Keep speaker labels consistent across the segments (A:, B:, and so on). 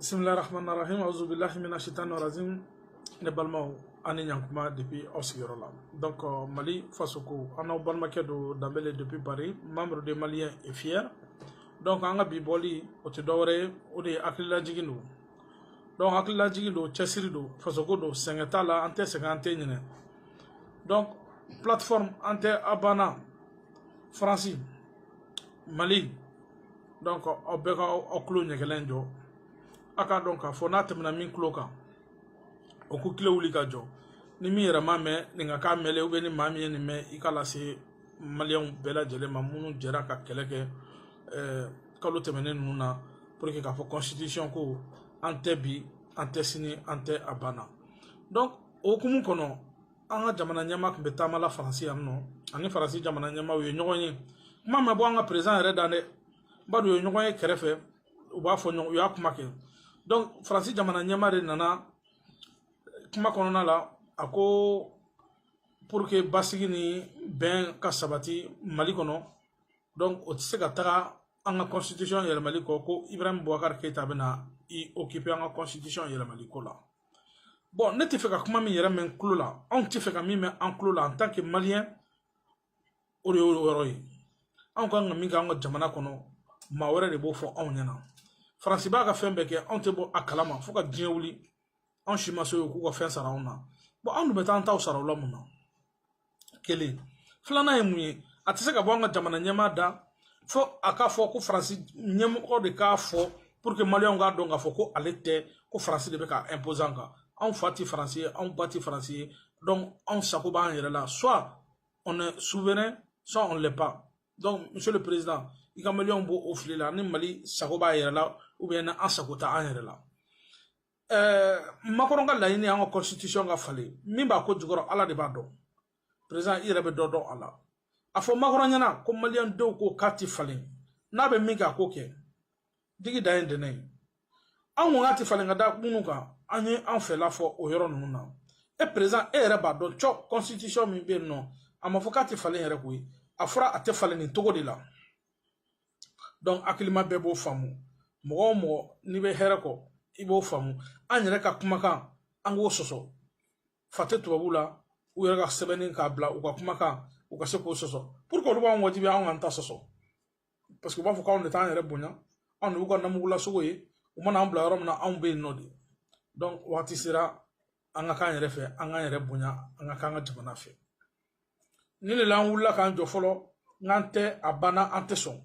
A: bisimilahi rahman rahim auzu billahi mina shaitan rajim ne balimaw ani ɲankuma depuis aw sigiyɔrɔ la donc euh, mali fasoko an n'aw balimakɛ don danbele depuis paris membre de malien et fier donc an ka bi bɔli o tɛ dɔwɛrɛ ye o de ye hakililajigin don donc hakililajigin don cɛsiri don fasoko don sɛgɛn t'a la an tɛ sɛgɛn an tɛ ɲinɛ donc plateforme an tɛ a banna faransi mali donc aw bɛɛ ka aw tulo ɲɛgɛlɛn jɔ a k'a dɔn k'a fɔ n'a tɛmɛna min tulo kan o k'o tulo wuli ka jɔ ni min yɛrɛ m'a mɛn nin ka k'a mɛnlɛ ou bien ni maa min ye nin mɛn i k'a lase maliyɛnw bɛɛ lajɛlen ma minnu jɛra ka kɛlɛ kɛ eh, kalo tɛmɛnen ninnu na pour que k'a fɔ constitution ko an tɛ bi an tɛ sini an tɛ a banna donc o hukumu kɔnɔ an ka jamana ɲɛmaa tun bɛ taama la faransi yan nɔ ani faransi jamana ɲɛmaa u ye ɲɔgɔn ye kuma ma bɔ an ka président yɛrɛ da dɛ bon donc u ye ɲɔgɔn ye kɛrɛfɛ u b'a fɔ ɲɔgɔn u y'a kuma kɛ donc faransi jamana ɲɛmaa de nana kuma kɔnɔna la a ko pour que basigi ni bɛn ka sabati mali kɔnɔ donc o tɛ se ka taga an ka constitution yɛlɛmali kɔ ko ibrahim boubacar keyita bɛna i occuper an ka constitution yɛlɛmali ko la bon ne tɛ fɛ ka kuma min yɛrɛ mɛn tulo la anw tɛ fɛ ka min mɛn an tulo la en tant que malien o de y'o yɔrɔ ye anw ka kan ka min kɛ an ka jamana kɔnɔ maa wɛrɛ de b'o fɔ anw ɲɛna faransi b'a ka fɛn bɛɛ kɛ anw tɛ bɔ a kalama fo ka diɲɛ wuli anw si ma se k'u ka fɛn sara anw na bon anw dun bɛ taa an taw sara u la mun na kelen filanan ye mun ye a tɛ se ka bɔ an ka jamana ɲɛmaa da fo a k'a fɔ ko faransi ɲɛmɔgɔ de k'a fɔ pour que maliyɛnw k'a dɔn k'a fɔ ko ale tɛ ko faransi de bɛ k'a imposer an kan anw fa tɛ faransi ye anw ba tɛ faransi ye donc anw sago b'an yɛrɛ la soit on est souverain soit on l'est pas donc monsieur le président i ka maliyɛnw bɔ o fili la ni mali sago b'a yɛrɛ la ou bien ni an sago tɛ an yɛrɛ la eh, macron ka laɲini an ka constitution ka falen min b'a ko jukɔrɔ ala de b'a dɔn président i yɛrɛ bɛ dɔ dɔn a la a fɔ macron ɲɛna ko maliyɛn denw ko k'a ti falen n'a bɛ min kɛ a k'o kɛ digi dan ye dɛnɛ ye an ko k'a tɛ falen ka da minnu kan an ye an fɛla fɔ o yɔrɔ ninnu na e président e yɛrɛ b'a dɔn cɔ constitution min bɛ yen nɔ a ma fɔ k'a tɛ falen yɛrɛ koyi a fɔra a tɛ falen nin cogo de la donc hakilima bɛɛ b'o faamu mɔgɔ o mɔgɔ n'i bɛ hɛrɛ kɔ i b'o faamu an yɛrɛ ka kumakan an k'o sɔsɔ fa tɛ tubabu la u yɛrɛ ka sɛbɛnni k'a bila u ka kumakan u ka se k'o sɔsɔ pour que olu b'an wajibi anw k'an ta sɔsɔ parce que u b'a fɔ k'anw de t'an yɛrɛ bonya anw de b'u ka namugulasogo ye u mana an bila yɔrɔ min na anw bɛ yen nɔ de donc waati sera an ka k'an yɛrɛ fɛ an k'an yɛrɛ bonya an ka k'an ka jamana fɛ nin de la an wulila k'an jɔ fɔlɔ k'an tɛ a banna an tɛ sɔn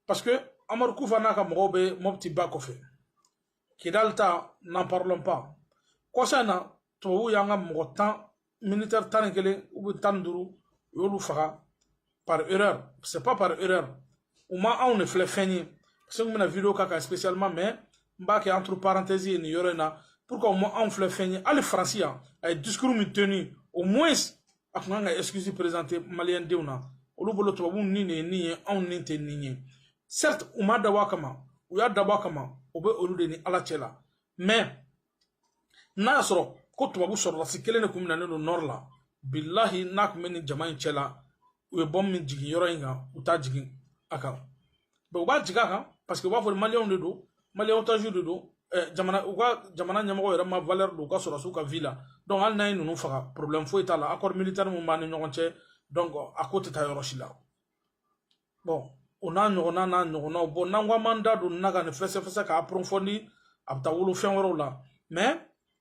A: parce que amadu kufa n'a ka mɔgɔw bɛ mɔpiti ba kɔfɛ kidali ta n'en parlons pas kɔsa in na tubabuw y'an ka mɔgɔ tan militaire tan ni kelen ou bien tan ni duuru u y'olu faga par erreur c'est pas par erreur u ma anw de filɛ fɛn ye parce que n bɛna vidéo k'a kan spécialement mais n b'a kɛ entre parenthèses ye nin yɔrɔ in na pour que u ma anw filɛ fɛn ye hali faransi yan a ye discours min tenu au moins a tun kan ka excuse présenter maliyɛn denw na olu bolo tubabuw ni de ye ni ye anw ni tɛ ni ye certes u m'a dabɔ a kama u y'a dabɔ a kama o bɛ olu de ni ala cɛ la mais n'a y'a sɔrɔ ko tubabu sɔrɔdasi kelen de kun minɛnen don nord la bilahi n'a kun bɛ nin jama in cɛla u ye bombe min jigin yɔrɔ in kan u t'a jigin a kan bon u b'a jigin a kan parce que u b'a fɔ maliyɛnw de don maliyɛn otagew de don jamana u ka jamana ɲɛmɔgɔ yɛrɛ ma valeur don u ka sɔrɔdasiw ka vie la donc hali n'a ye ninnu faga problème foyi t'a la accord militaire min b'an ni ɲɔgɔn cɛ donc a ko tɛ taa yɔrɔ si la bon o n'a ɲɔgɔnna n'a ɲɔgɔnnaw bon n'an ko an b'an da don nin na ka nin fɛsɛfɛsɛ k'a approfondi a bɛ taa wolo fɛn wɛrɛw la mais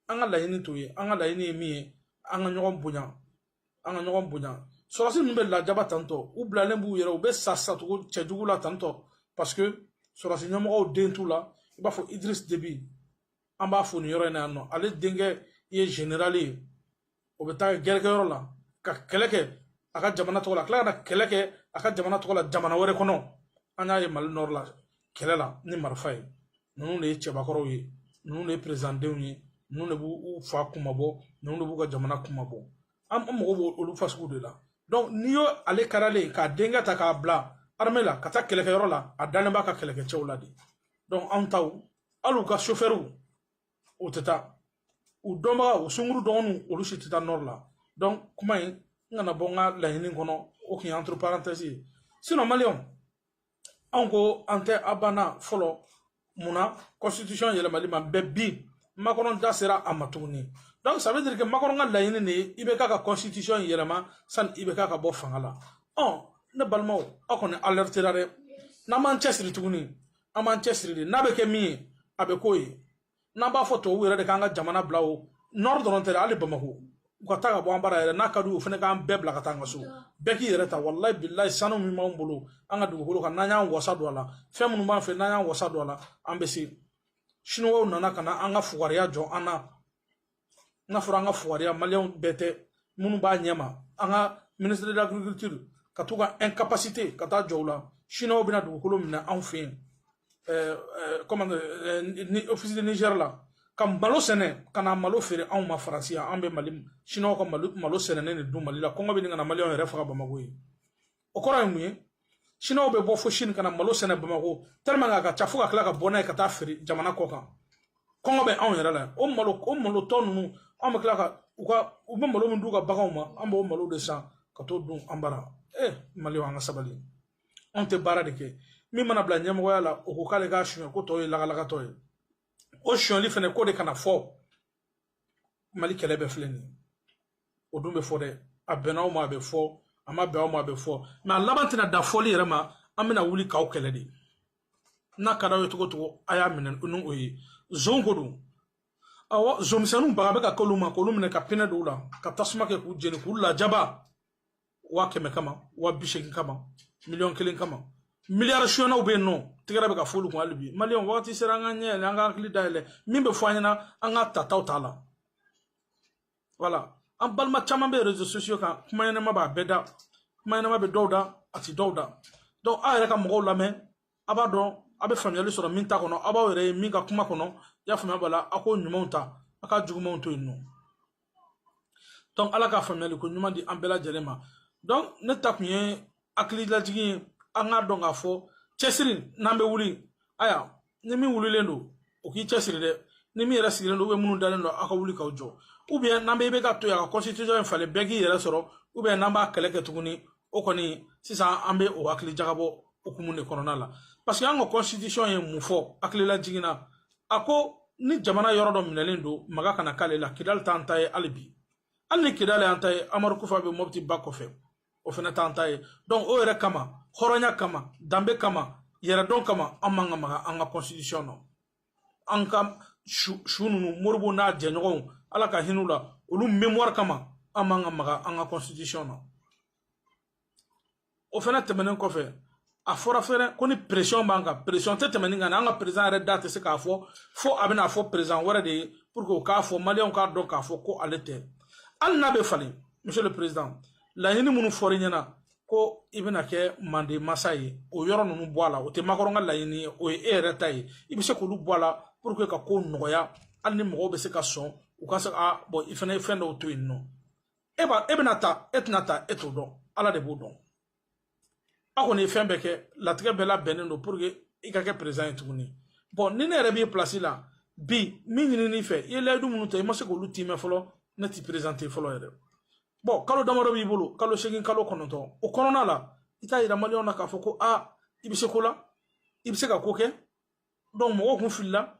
A: an ka laɲini t'o ye an ka laɲini ye min ye an ka ɲɔgɔn bonya an ka ɲɔgɔn bonya sɔrɔdasi ninnu bɛ lajaba tantɔ u bilalen b'u yɛrɛ u bɛ sa sacogo cɛjugu la tantɔ parce que sɔrɔdasi ɲɛmɔgɔw den t'u la i b'a fɔ idriss déby an b'a fo nin yɔrɔ in na yan nɔ ale denkɛ ye generali ye o bɛ taa gɛrɛkɛyɔrɔ la ka kɛlɛ kɛ a ka jamana tɔgɔ la tila ka na kɛlɛ kɛ a ka jamana tɔgɔ la jamana wɛrɛ kɔnɔ an y'a ye mali nord la kɛlɛ la ni marifa ye ninnu de ye cɛbakɔrɔw ye ninnu de ye président denw ye ninnu de b'u fa kunmabɔ ninnu de b'u ka jamana kunmabɔ an mago b'o olu fa sugu de la donc n'i y'o ale karilen k'a denkɛ ta k'a bila armée la ka taa kɛlɛkɛyɔrɔ la a dalen b'a ka kɛlɛkɛcɛw la de donc anw taw hali u ka sofɛriw u tɛ taa u dɔnbaga u sungurun dɔgɔninw olu si tɛ taa nord la donc kuma in n kana bɔ n ka laɲini kɔnɔ o tun ye entre parenthèses ye sinon maliyɛnw anw ko an tɛ a banna fɔlɔ mun na constitution yɛlɛmali ma mais bi macron da sera a ma tuguni donc ça veut dire que macron ka laɲini de ye ibk ka constitution yɛlɛma sani ibk ka bɔ fanga la ɔ ne balimaw aw kɔni alertera dɛ n'an m'an cɛsiri tuguni an b'an cɛsiri de n'a bɛ kɛ min ye a bɛ k'o ye n'an b'a fɔ tubabuw yɛrɛ de k'an ka jamana bila o nord dɔrɔn tɛ dɛ hali bamakɔ u ka taa ka bɔ an bara yɛrɛ n'a ka d'u ye u fana k'an bɛɛ bila ka taa an ka so bɛɛ k'i yɛrɛ ta walayi bilayi sanu min b'an bolo an ka dugukolo kan n'an y'an wasa don a la fɛn minnu b'an fɛ n'an y'an wasa don a la an bɛ se chinois nana ka na an ka fugariya jɔ an na n'a fɔra an ka fugariya maliyɛnw bɛɛ tɛ minnu b'a ɲɛma an ka ministre de l'agriculture ka t'u ka incapacité ka taa jɔ u la chinois bɛna dugukolo minɛ anw fɛ yen comment ni office de niger la ka malo sɛnɛ ka na malo feere anw ma faransi yan an bɛ mali chinois ka malo sɛnɛnen de dun mali la kɔngɔ bɛ ɲini ka na maliyɛnw yɛrɛ faga bamako yen o kɔrɔ ye mun ye chinois bɛ bɔ fo chine ka na malo sɛnɛ bamakɔ tellement a ka ca fo ka tila ka bɔ n'a ye ka taa feere jamana kɔ kan kɔngɔ bɛ anw yɛrɛ la o malo o malo tɔ ninnu an bɛ tila ka u ka u bɛ malo min d'u ka baganw ma an b'o malo de san ka t'o dun an bara ee maliyɛnw an ka sabali anw tɛ baara de kɛ min mana bila ɲɛmɔgɔya la o ko k'ale k'a suɲɛ ko tɔw ye lagalagatɔ ye o sonyali fana ko de kana fɔ mali kɛlɛ bɛɛ filɛ nin o dun bɛ fɔ dɛ a bɛnna aw ma a bɛ fɔ a ma bɛn aw ma a bɛ fɔ mais a laban tɛna dan fɔli yɛrɛ ma an bɛna wuli k'aw kɛlɛ de n'a ka d'aw ye cogo cogo a y'a minɛ ni o ye zon ko don awɔ zonmisɛnninw baga bɛ ka k'olu ma k'olu minɛ ka pinɛ don u la ka tasuma kɛ k'u jeni k'u lajaba waa kɛmɛ kama waa bi seegin kama miliyɔn kelen kama miliyari suɲɛnnaw bɛ yen nɔ tɛgɛrɛ bɛ ka f'olu kun hali bi maliyɛn wagati sera an ka ɲɛ yɛlɛ an ka hakili dayɛlɛ min bɛ fɔ an ɲɛna an ka tataw t'a la voilà an balima caman bɛ réseaux sociaux kan kuma ɲɛnɛma b'a bɛɛ da kuma ɲɛnɛma bɛ dɔw da a ti dɔw da donc aw yɛrɛ ka mɔgɔw lamɛn a b'a dɔn a bɛ faamuyali sɔrɔ min ta kɔnɔ aw b'aw yɛrɛ ye min ka kuma kɔnɔ i y'a faamuya b'a la a k'o ɲumanw ta a k'a jugumanw to yen nɔ donc ala ka faamuyali ko ɲuman di an bɛɛ lajɛlen ma donc ne ta kun ye hakililajigin ye an k'a dɔn k'a fɔ cɛsiri n'an bɛ wuli aya ni min wulilen don o k'i cɛsiri dɛ ni min yɛrɛ sigilen don minnu dalen don aw ka wuli k'aw jɔ n'an bɛ IBK to yen a ka constitution in falen bɛɛ k'i yɛrɛ sɔrɔ n'an b'a kɛlɛ kɛ tuguni o kɔni sisan an bɛ o hakili jagabɔ hukumu de kɔnɔna la parce que an ka constitution ye mun fɔ hakililajigin na a ko ni jamana yɔrɔ dɔ minɛlen don maga kana k'ale la kidali t'an ta ye hali bi hali ni kidali y'an ta ye amadu kufa bɛ mɔbiti ba kɔfɛ o fana t'an ta ye donc o yɛrɛ kama hɔrɔnya kama danbe kama yɛrɛdɔn kama an man ka maga an ka constitution na an ka su ninnu modibo n'a jɛɲɔgɔnw ala ka hin'u la olu mémoire kama an man ka maga an ka constitution na o fana tɛmɛnen kɔfɛ a fɔra fɛnɛ ko ni pression b'an kan pression tɛ tɛmɛ nin kan an ka président yɛrɛ da tɛ se k'a fɔ fo a bɛna fɔ président wɛrɛ de ye pour que o k'a fɔ maliyɛnw k'a dɔn k'a fɔ ko ale tɛ hali n'a bɛ falen monsieur le président laɲini minnu fɔr'i ɲɛna ko i bɛna kɛ manden masa ye o yɔrɔ ninnu bɔ a la o tɛ macron ka laɲini ye o ye e yɛrɛ ta ye i bɛ se k'olu bɔ a la pour que ka ko nɔgɔya hali ni mɔgɔw bɛ se ka sɔn u ka se ka bon i fana ye fɛn dɔw to yen nɔ e b'a e bɛna ta e tɛna ta e t'o dɔn ala de b'o dɔn a kɔni ye fɛn bɛɛ kɛ latigɛ bɛɛ labɛnnen don pour que i ka kɛ président ye tuguni bon ni ne yɛrɛ b'i place la bi min ɲinini fɛ i ye layidu minnu ta i ma se k'olu tiimɛ fɔlɔ ne t'i présenter fɔlɔ yɛrɛ bon kalo damadɔ b'i bolo kalo seegin kalo kɔnɔntɔn o kɔnɔna la i t'a yira maliyɛnw na k'a fɔ ko i bɛ se ko la i bɛ se ka ko kɛ donc mɔgɔw kun filila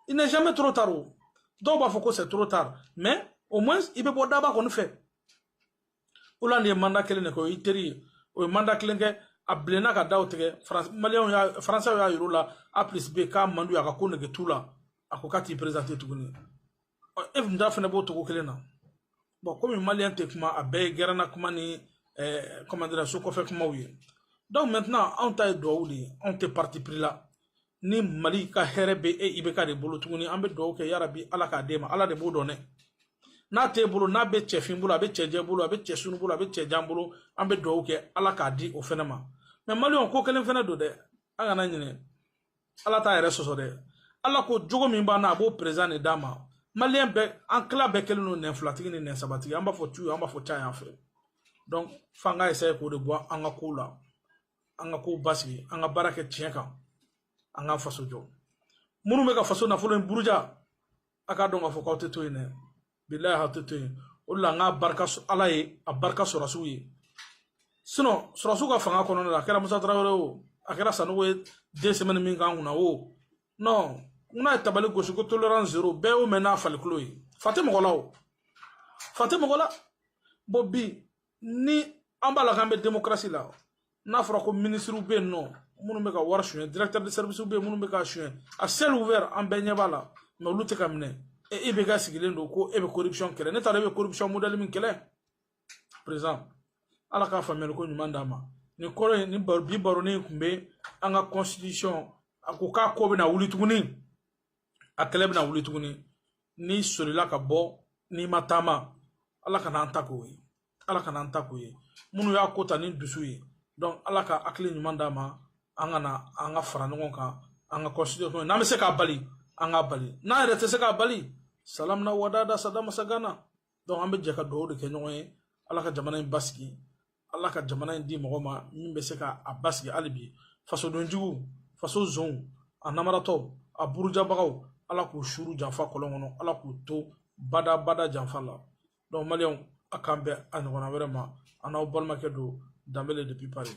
A: il n'est jamais trop tard o dɔw b'a fɔ ko c'est trop tard mais au moins i bɛ bɔ daba kɔni fɛ hollande ye mandat kelen de kɛ o y'i teri ye o ye mandat kelen kɛ a bilenna ka daw tigɛ maliyɛnw y'a faransɛw y'a yir'u la a plus b k'a man d'u ye a ka ko nege t'u la a ko k'a t'i présenter tuguni e dun ta fana b'o cogo kelen na bon komi maliyɛn tɛ kuma a bɛɛ ye gɛrɛnna kuma ni comment dirais so kɔfɛ kumaw ye donc maintenant anw ta ye duwawu de ye anw tɛ parti pris la ni mali ka hɛrɛ bɛ e ibk de bolo tuguni an bɛ duwawu kɛ yarabi ala k'a d'e ma ala de b'o dɔn dɛ n'a t'e bolo n'a bɛ cɛfin bolo a bɛ cɛjɛ bolo a bɛ cɛsurun bolo a bɛ cɛjan bolo an bɛ duwawu kɛ ala k'a di o fana ma mais maliyɛn ko kelen fana don dɛ an kana ɲinɛ ala t'a yɛrɛ sɔsɔ dɛ ala ko jogo min b'an na a b'o président de d'a ma maliyɛn bɛɛ an tila bɛɛ kɛlen don nɛn filatigi ni nɛn sabatigi an b'a fɔ tu an b'a fɔ ca yan fɛ donc f'an ka essayer k'o de bɔ an ka kow la an ka kow basigi an ka baara kɛ tiɲɛ kan an ka faso jɔ minnu bɛ ka faso nafolo in buruja a k'a dɔn k'a fɔ k'aw tɛ to yen dɛ bilayi aw tɛ to yen o de la n k'a barika sɔ- ala ye a barika sɔrɔsiw ye sinon sɔrɔsiw ka fanga kɔnɔna la a kɛra musa tarawele o a kɛra sanogo ye deux semaines min k'an kunna o non n n'a ye tabali gosi ko tolérance zéro bɛɛ y'o mɛn n'a falikulo ye fa tɛ mɔgɔ la o fa tɛ mɔgɔ la bon bi ni an b'a la k'an bɛ demokarasi la n'a fɔra ko minisiriw bɛ yen nɔ minnu bɛ ka wari suɲɛ directeur de service bɛ yen minnu bɛ ka suɲɛ à ciel ouvert an bɛɛ ɲɛ b'a la mais olu tɛ ka minɛ e e bɛ ka sigilen don ko e bɛ corruption kɛlɛ ne t'a dɔn e bɛ corruption modèle min kɛlɛ président ala ka faamuyali ko ɲuman d'a ma nin kɔrɔ ye nin bi baronin in tun bɛ an ka constitution a ko k'a ko bɛna wuli tuguni a kɛlɛ bɛna wuli tuguni n'i solila ka bɔ n'i ma taama ala kana an ta k'o ye ala kana an ta k'o ye minnu y'a ko ta ni dusu ye donc ala ka hakili ɲuman d'a ma an ka na an ka fara ɲɔgɔn kan an ka constitution n'an bɛ se k'a bali an k'a bali n'an yɛrɛ tɛ se k'a bali salamina wadada sadamasa gana donc an bɛ jɛ ka dugawu de kɛ ɲɔgɔn ye ala ka jamana in basigi ala ka jamana in di mɔgɔ ma min bɛ se ka a basigi hali bi fasodenjuguw faso zonw a namaratɔw a burujabagaw ala k'u suru janfa kɔlɔn kɔnɔ ala k'u to bada bada janfa la donc maliyɛnw a k'an bɛn a ɲɔgɔnna wɛrɛ ma a n'aw balimakɛ don danbele depuis paris